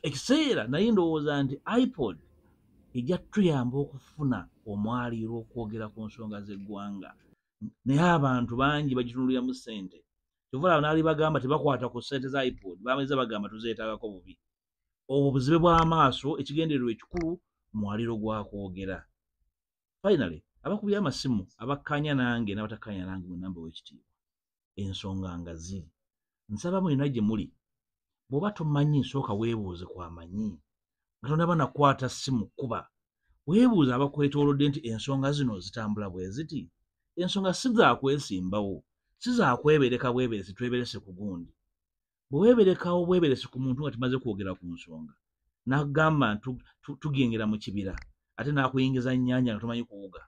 ekiseera naye ndowooza nti ipod ejja tuyamba okufuna omwaliiro okwogera ku nsonga z'eggwanga naye abantu bangi bagitunuliramu ssente kyova laba naali bagamba tebakwata ku ssente za ipod bameza bagamba tuzeetaagako bubi obwo buzibe bw'amaaso ekigendererwa ekikulu mwaliiro gwa kwogera finally abakubye amasimu abakkaanya nange n'abatakkaanya nange mu namba w'ekitiibwa ensonga nga ziri nsaba mwena gye muli bw'oba tomanyi nsooka weebuuze ku amanyi nga tonaba nakwata simu kuba weebuuza abakwetoolodde nti ensonga zino zitambula bwe ziti ensonga si zakwesimbawo si zakwebereka bweberesi tweberese ku gundi bwe weeberekawo bweberesi ku muntu nga tumaze kwogera ku nsonga n'agamba tugengera mu kibira ate n'akuyingiza nnyanja nga tumanyi kuwuga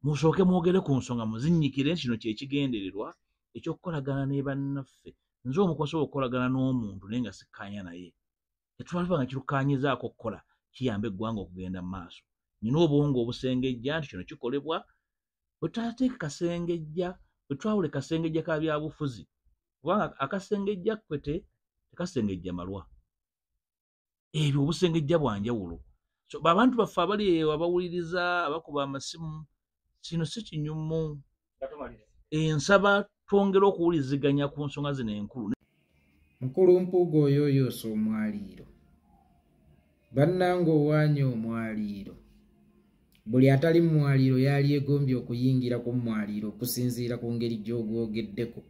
musooke mwogere ku nsonga muzinnyikire kino kyekigendererwa ekyokukolagana ne bannaffe nze omukosobola okukolagana n'omuntu naye nga sikkaanya naye tetwalaba nga kirukaanyizaako okukola kiyamba eggwanga okugenda mu maaso nina obwongo obusengejja nti kino kikolebwa wetutateeke kasengejja wetwawule kasengejja ka byabufuzi kubanga akasengejja kwete tekasengejja malwa ebyo obusengejja bwanjawulo so babantu baffe abali eyo abawuliriza abakuba amasimu kino si kinyumu ensaba twongere okuwuliziganya ku nsonga zino enkulu mukulu mpuuga oyo oyoosa omwaliiro bannanga owaanya omwaliiro buli atali mu mwaliiro yalyegombye okuyingira ku mwaliiro okusinziira ku ngeri gy'ogwogeddeko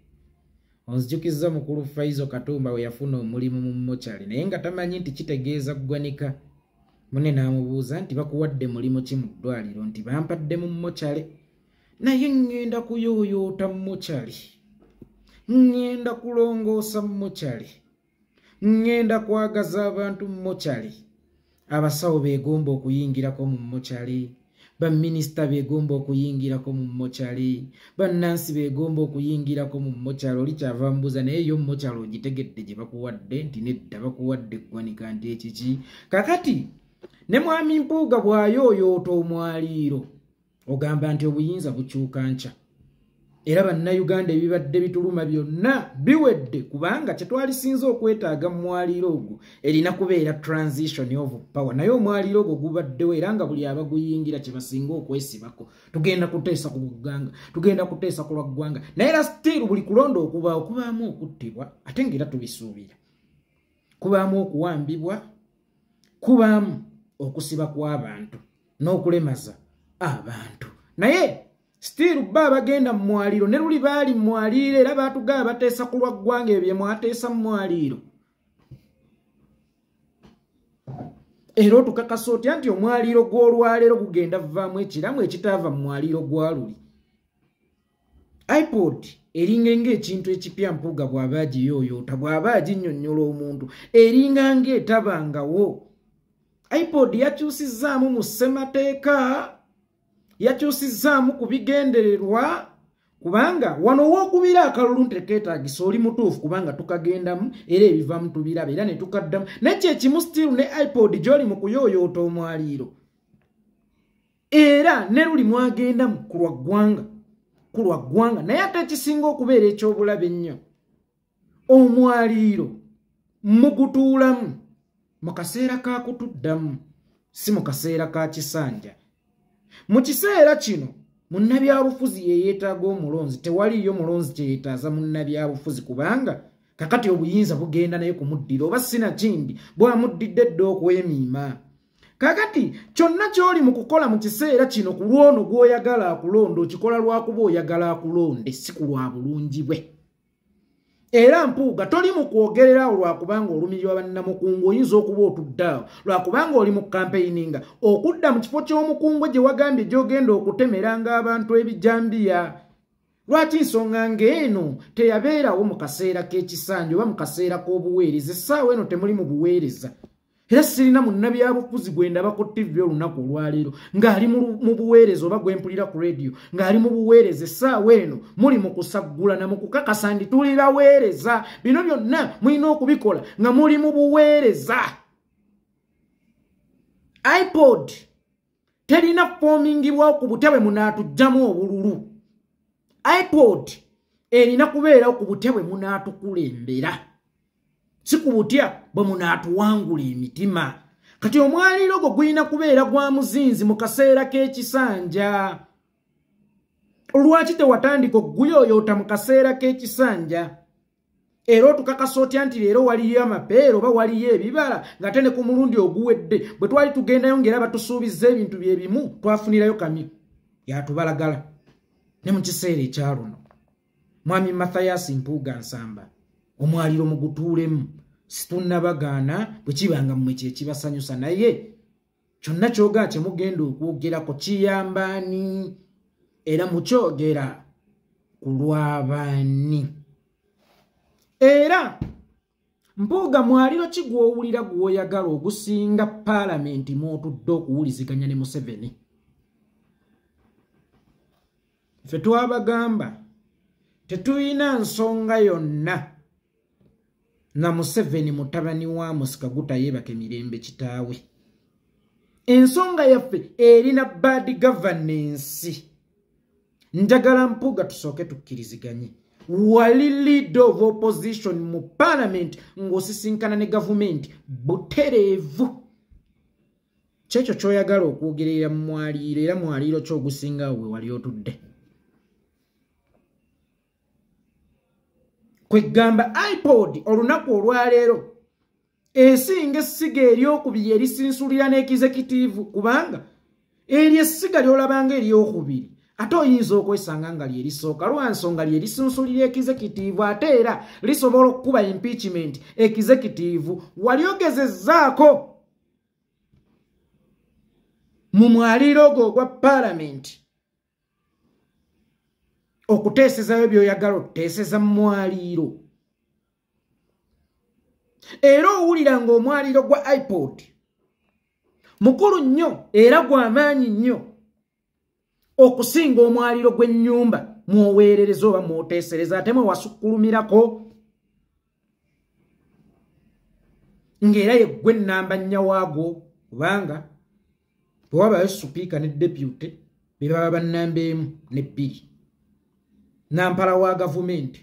onzijukizza mukulu faizo katumba we yafuna omulimu mu mochale naye nga tamanyi nti kitegeeza ggwanika mune n'amubuuza nti bakuwadde mulimu ki mu ddwaliro nti bampadde mu mochale naye ŋŋenda kuyooyoota mochale ŋŋenda kulongoosa mochale ŋŋenda kwagaza abantu mu mochali abasawo beegomba okuyingirako mu mochali baminisita beegomba okuyingirako mu mochali bannansi beegomba okuyingirako mu mochali oli kyava mbuuza naye yo mochali ogitegedde gye bakuwadde nti nedda bakuwadde eggwanika nti ekiki kakati ne mwami mpuuga bw'ayooyoota omwaliiro ogamba nti obuyinza bukyuka nkya era bannayuganda ebibadde bituluma byonna biwedde kubanga kyetwalisinza okwetaaga mu mwaliiro ogwo erina kubeera transition of power naye omwaliiro ogwo gubaddewo era nga buli abaguyingira kyebasinga okwesibako tugenda kuteesa ku ggwanga tugenda kuteesa ku lwa ggwanga naye era still buli kulonda okubaawo kubaamu okuttibwa ate ngaera tubisuubira kubaamu okuwambibwa kubaamu okusiba kw'abantu n'okulemaza abantu naye sitiiru bba abagenda mu mwaliiro ne luli baali mu mwaliiro era baatugaba bateesa ku lwa ggwanga ebyo bye mwateesa mu mwaliiro era otukakasa otya nti omwaliiro gw'olwaleero gugenda vaamu ekiramu ekitaava mu mwaliiro gwa luli ipod eringa ngaekintu ekipya mpuuga bw'aba agiyooyoota bw'aba aginyonnyola omuntu eringa ngaetabangawo ipod yakyusizzaamu mu ssemateeka yakyusizzaamu ku bigendererwa kubanga wano wokubira akalulu ntekeetagisa oli mutuufu kubanga tukagendamu era ebivamu tubiraba era ne tukaddamu naye kyekimu stiru ne ipod gy'oli mu kuyooyoota omwaliiro era ne luli mwagenda mu kulwa ggwanga ku lwa ggwanga naye ate ekisinga okubeera eky'obulabe ennyo omwaliiro mugutuulamu mu kaseera ka kutuddamu si mu kaseera ka kisanja mu kiseera kino munnabyabufuzi yeyeetaaga omulonzi tewaliiyo mulonzi kyeyetaaza munnabyabufuzi kubanga kakati obuyinza bugenda naye kumuddira oba sinakindi bwamuddidde dda okwemiima kakati kyonna ky'oli mu kukola mu kiseera kino ku lwono gw'oyagala akulonda okikola lwakuba oyagala akulonde si ku lwa bulungi bwe era mpuuga toli mu kwogererawo lwakubanga olumirirwa bannamukungu oyinza okuba otuddaawo lwakubanga oli mu kampeyininga okudda mu kifo ky'omukungu gye wagambye gy'ogenda okutemeranga abantu ebijambiya lwaki nsonga ng'eno teyabeerawo mu kaseera k'ekisanja oba mu kaseera k'obuweereza essaawa eno temuli mu buweereza era sirina munnabyabufuzi gwe ndaba ku ttivi olunaku olwaleero ng'ali mu buweereza oba gwe mpulira ku rediyo ng'ali mu buweereza essaawa eno muli mu kusaggula na mu kukakasa ndi tuli baweereza bino byonna mulina okubikola nga muli mu buweereza ipod terina kufomingibwawo ku butya bwe munaatugjamu obululu ipod erina kubeerawo ku butya bwe munaatukulembera si ku butya bwe munaatuwangula emitima kati omwaliiro gwo gulina kubeera gwa muzinzi mu kaseera k'ekisanja lwaki tewatandika okuguyoyoota mu kaseera k'ekisanja era otukakasa otya nti leero waliyo amapeera oba waliyo ebibala ngate ne ku mulundi oguwedde bwe twali tugendayo ngaera batusuubizza ebintu bye bimu twafunirayo kami yatubalagala ne mu kiseera ekyaluno mwami mathayasi mpuuga nsamba omwaliro mugutuulemu situnnabagaana bwe kibanga mmwe kyekibasanyusa naye kyonna kyoga kyemugenda okwogerako kiyambaani era mukyogera ku lw'abaani era mpuuga mwaliro ki gw'owulira gw'oyagala ogusinga paalamenti mw'otudde okuwuliziganya ne museveni ffe twabagamba tetulina nsonga yonna na museveni mutabani wa musika gutayebaka emirembe kitaawe ensonga yaffe erina bad governance njagala mpuga tusooke tukkiriziganye wali leader of opposition mu parliament ng'osisinkana ne gavumenti butereevu kyekyo kyoyagala okwogerera mu mwaliiro era mwaliiro kyogusinga we wali otudde kwegamba ipod olunaku olwaleero esinga essiga eryokubiri erisinsulira n'ekizekitiivu kubanga eryo essiga lyolabanga eryokubiri ate oyinza okwesanga nga lyerisooka lwansonga lyerisunsulira ekizekitiivu ate era lisobola okukuba impeachment ekizekitiivu wali ogezezaako mu mwaliiro ogwo ogwa paalamenti okuteesezayo byoyagala okuteeseza mu mwaliiro era owulira ng'omwaliro gwa ipod mukulu nnyo era gw'amaanyi nnyo okusinga omwaliro gw'ennyumba mwoweerereza oba mwoteesereza ate mwe wasukulumirako ng'era yeggwe ennamba nnya waagwo kubanga bwewabayo supiika ne depute be baba bannamba emu ne bbiri nampala wa gavumenti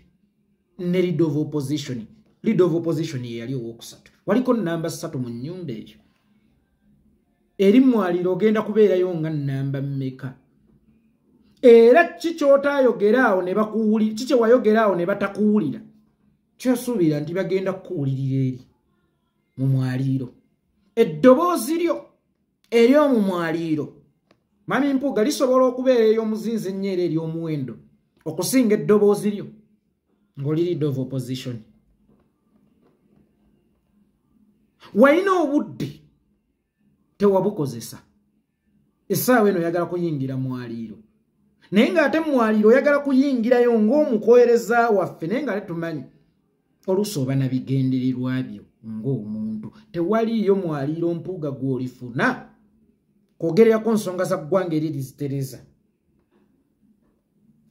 ne lead of opposition lead of opposition yeyali owokusatu waliko namba ssatu mu nyumba eyo eri mwaliro ogenda kubeerayo nga namba mmeka era ki kyotayogera awo ne bakuwulira ki kyewayogera awo ne batakuwulira kyosuubira nti bagenda kukuwulirira eri mu mwaliiro eddoboozi lyo ery'omu mwaliiro mami mpuuga lisobola okubeera ey'omuzinzi ennyo era ery'omuwendo okusinga eddoboozi lyo ng'oli lead of opposition walina obudde tewabukozesa essaawa eno oyagala kuyingira mwaliiro naye ng'ate mwaliiro oyagala kuyingirayo ng'omukoereza waffe naye nga tetumanyi oluusi oba na bigendererwa byo ng'omuntu tewaliiyo mwaliiro mpuuga gw'olifuna kwogerera ku nsonga za ggwanga eri lizitereza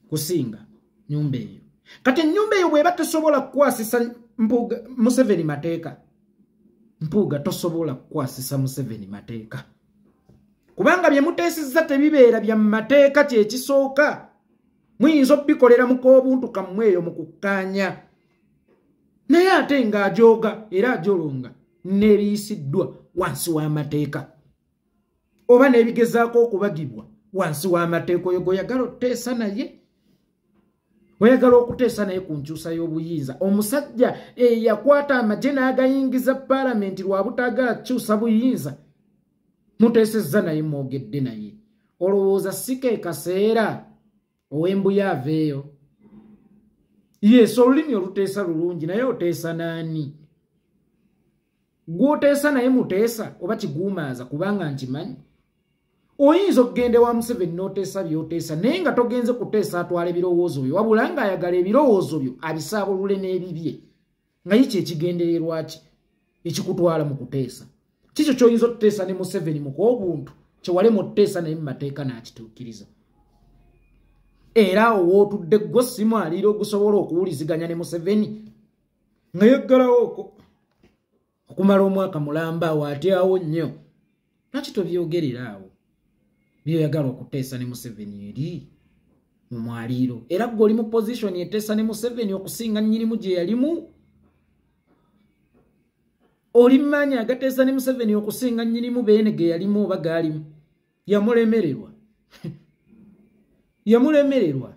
kusinga nyumba eyo kati enyumba eyo bweba tesobola kukwasisa mpuga museveni mateeka mpuuga tosobola kukwasisa museveni mateeka kubanga bye muteesezza tebibeera bya mu mateeka kyekisooka muyinza okubikolera mu k'obuntu kammwe eyo mu kukkaanya naye ate ng'ajooga era ajolonga n'eriyisiddwa wansi w'amateeka oba n'ebigezaako okubagibwa wansi w'amateeka oyo gweoyagala oteesa naye oyagala okuteesa naye ku nkyusa y'obuyinza omusajja eyakwata amagye n'agayingiza paalamenti lwa butaagala kukyusa buyinza muteesezza naye mwogedde naye olowooza si ke kaseera owembuya aveeyo yes olulimi oluteesa lulungi naye oteesa naani gwoteesa naye muteesa oba kiguumaaza kubanga nkimanyi oyinza okugenda ewa museveni noteesa byoteesa naye nga togenze kuteesa atwala ebirowoozo byo wabula nga ayagala ebirowoozo byo abisaabulule n'ebibye nga ye kyekigendererwa ki ekikutwala mu kuteesa kikyo kyoyinza otuteesa ne museveni mukwobuntu kyewalemu otuteesa naye mumateeka nakituukiriza era awo wootudde gwo simu aliira ogusobola okuwuliziganya ne museveni nga yaggalawo oko okumala omwaka mulamba awo ate awo nnyo lwaki tobyogerera awo byoyagala okuteesa ne museveni eri mu mwaliiro era gwe oli mu pozishoni eteesa ne museveni okusinga nyinimu gye yalimu oli mumaanyi agateesa ne museveni okusinga nyinimu beene ge yalimu oba gaalimu yamulemererwa yamulemererwa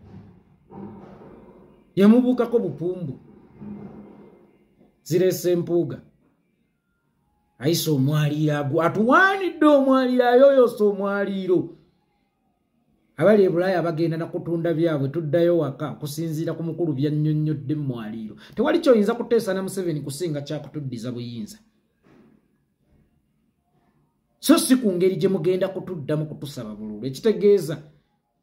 yamubuukako bupumbu zirese mpuuga ayise omwaliiro agu atuwaanidde omwaliiro ayoyosa omwaliiro abali ebulaaya bagenda nakutunda byabwe tuddayo waka okusinziira ku mukulu byannyonnyodde mu mwaliiro tewali kyoyinza kuteesa na museveni kusinga kyakutuddiza buyinza so si ku ngeri gye mugenda kutuddamu kutusaba bululu ekitegeeza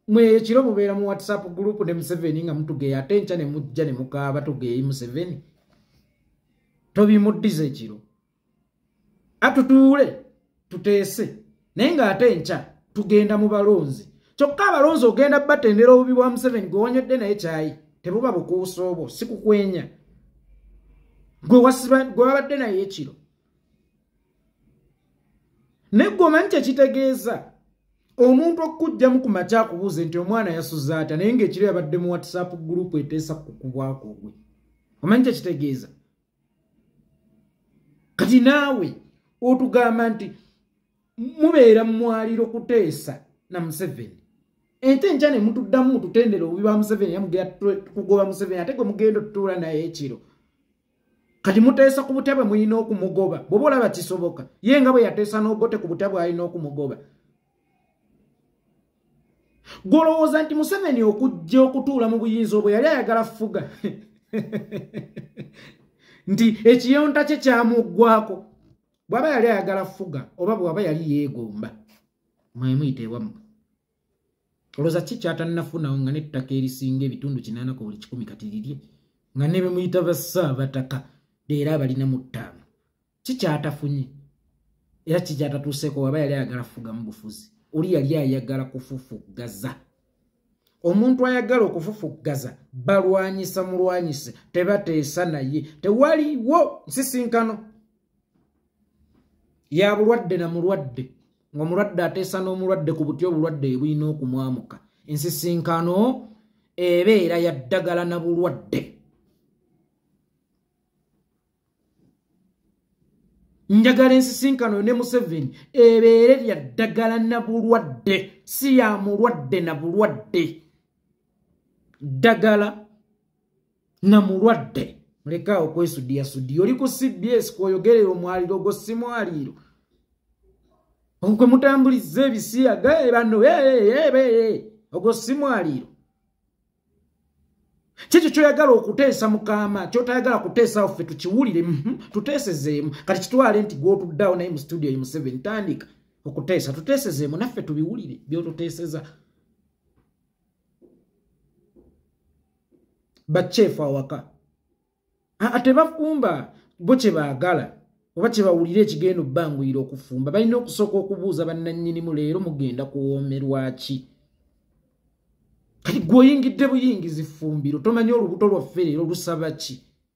mwe ekiro mubeera mu whatsapp group ne museveni nga mutugeya ate nkya ne mujja ne mukaaba tugeeyi museveni tobimuddiza ekiro atutuule tuteese naye ng'ate enkya tugenda mu balonzi kyokka abalonzi ogenda batendera obubi bwa museveni gwe wanyodde naye kyayi tebuba bukuusa obwo sikukwenya gwe wabadde naye ekiro naye gwe omanyi kyekitegeeza omuntu okukugjamu ku makya akubuuze nti omwana yasuza atya naye ngaekiro yabadde mu whatsapp group eteesa kukubwako gwe omanyi kyekitegeeza kati naawe otugamba nti mubeera mumwaliro kuteesa na museveni ente nkya ne mutuddamu mututendera obubi ba museveni yamugera kugoba museveni ate gwe mugenda otutuula naye ekiro kati muteesa ku butebe mulina okumugoba bwoba olaba kisoboka ye nga bwe yateesa n'obote ku butebe alina okumugoba gwolowooza nti museveni okujja okutuula mu buyinza obwe yali ayagala fuga nti ekiyonta kye kyamuggwako bwaba yali ayagala fuga oba bwaba yali yeegomba mwemuyiteewamwe olowooza ki kyatannafunawo nga n'ettaka erisinga ebitundu kinaana ku buli kikumi kati lirye nga ne be muyita bassaabataka leero abalina mu ttaano ki kyatafunye era ki kyatatuuseeko waba yali ayagala kufugamu bufuzi oli yali ayagala kufufuggaza omuntu ayagala okufufuggaza balwanyisa mulwanyise tebateesa naye tewaliwo nsisinkano ya bulwadde na mulwadde ng'omulwadde ateesa n'omulwadde ku butya obulwadde ebulina okumwamuka ensisinkano ebeera ya ddagala na bulwadde njagala ensisinkano ne museveni ebeere lya ddagala na bulwadde si ya mulwadde na bulwadde ddagala na mulwadde mulekaawo kwesudiya sudiya oli ku cbs kwoyogerera omwaliro ogwo si mwaliiro okwe mutambuliza ebisiyaga ebano ogwo si mwaliiro kyekyo kyoyagala okuteesa mukama kyotayagala kuteesawo ffe tukiwulire mhm, tuteesezeemu kati kitwale nti gwotuddawo naye mu studio emu seven tandika okuteesa tuteesezeemu naffe tubiwulire byotuteeseza bakyefu awaka atebafumba bo kyebaagala oba kyebawulira ekigenda obbanguyira okufumba balina okusooka okubuuza bannannyinimu leero mugenda kuwoomerwaki kati gweoyingidde buyingizi fumbiro tomanya olubuto lwaffe leero lusaba ki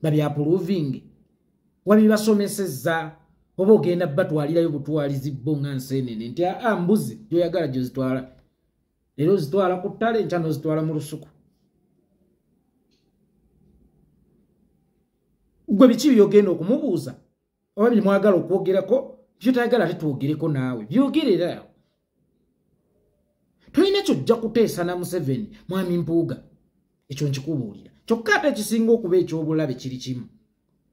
nga byapuluvinge wabibasomeseza oba ogenda batwalirayo butwalizi bo nga nsenene nti aa ah, ah, mbuzi gyoyagala gyozitwala era ozitwala ku ttale nkya nozitwala mu lusuku gwe biki byogenda okumubuuza oba byemwagala okwogerako byotayagala ate twogereko naawe byogerera tolina kyojja kuteesa na museveni mwami mpuuga ekyo nkikubuulira kyokka ate ekisinga okuba ekyobulabe kiri kimu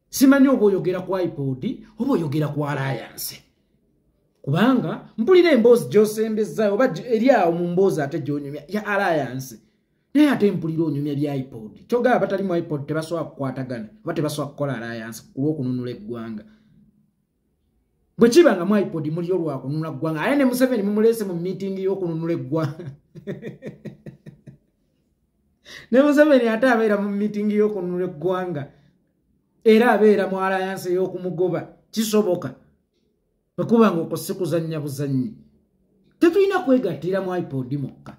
simanyi oba oyogera ku ipod oba oyogera ku alayanse kubanga mpulira emboozi gyosembezzayo oba eri awo mu mboozi ate gyonyumya ya alayanse naye ate mpulira onyumya bya ipod kyogaba batali mu ipod tebasobola kukwatagana oba tebasobola kukola alayanse kulwokununula eggwanga bwekiba nga mwipod muliyo lwakununula ggwanga aye ne museveni mumuleese mu miitingi y'okununula eggwanga ne museveni ate abeera mu miitingi y'okununula eggwanga era abeera mu alayansi ey'okumugoba kisoboka bwekuba nga okwo sikuzannya buzannyi tetulina kwegattira mwipod mukka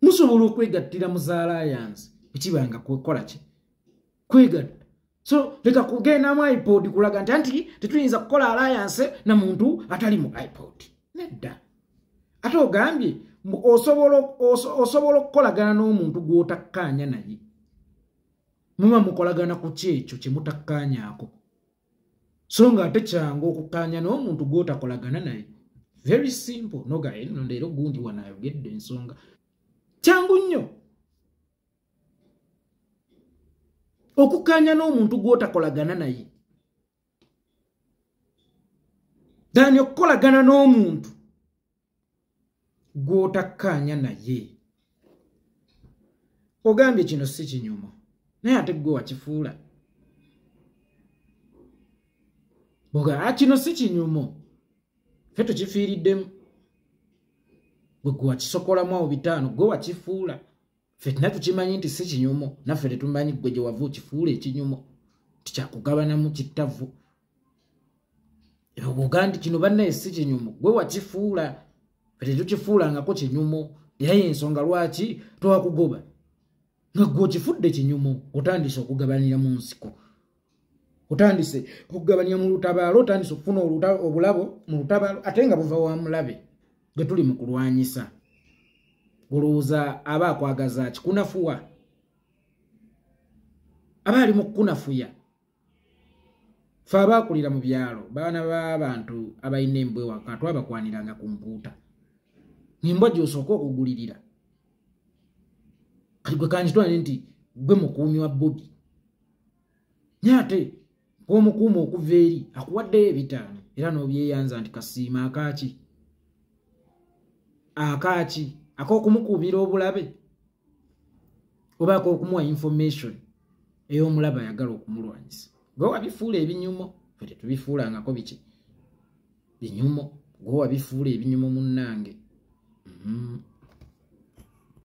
musobola okwegattira mu za alliance ekibanga kukola ki kwegatta so leka kugendamu ipod kulaga nti anti tetuyinza kukola alliance na muntu atali mu ipod nedda ate ogambye osobola okukolagana n'omuntu gw'otakkaanya naye muba mukolagana ku kyekyo kye mutakkaanyaako so nga ate kyangu okukkaanya n'omuntu gw'otakolagana naye very simple noga eno eh, leero gundi wano ayogedde ensonga kyangu nnyo okukkaanya n'omuntu gw'otakolagana naye dani okukolagana n'omuntu gw'otakkaanya naye ogambye kino si kinyumo naye ate gwe wakifuula boga ah, kino si kinyumo fe tukifiiriddemu gwe gwe wakisokolamu awo bitaano gwe wakifuula fe tina tukimanyi nti si kinyumo naffe tetumanyi gwe gye wava okifuula ekinyumo tikyakugabanamu kittavu ogandi kino bannaye si kinyumu gwe wakifuula kati tokifuulangako kinyumu era yensonga lwaki towakugoba nga gwe okifudde kinyumu otandise okugabanira mu nsiko otandise okugabanya mu lutabaalo otandise okufuna obulabo mu lutabaalo ate nga buva wa mulabe gwe tuli mu kulwanyisa olowooza aba akwagaza kikunafuwa aba ali mu kukunafuya fe abaakulira mu byalo baana b'abantu abalina embwa ewaka twabakwaniranga ku mpuuta ngembwa gyosooka okugulirira kati gwe kankitwale nti gwe mukuumi wa bobi naye ate gwomukuuma okuva eri akuwaddeyo ebitaano era n'obyeyanza nti kasiima akaaki akaaki ak'okumukuumira obulabe obaako okumuwa information ey'omulaba ayagala okumulwanyisa gwe wabifuula ebinyumo fe tetubifuulangako biki binyumo gwe wabifuula ebinyumo munnange mm-hmm.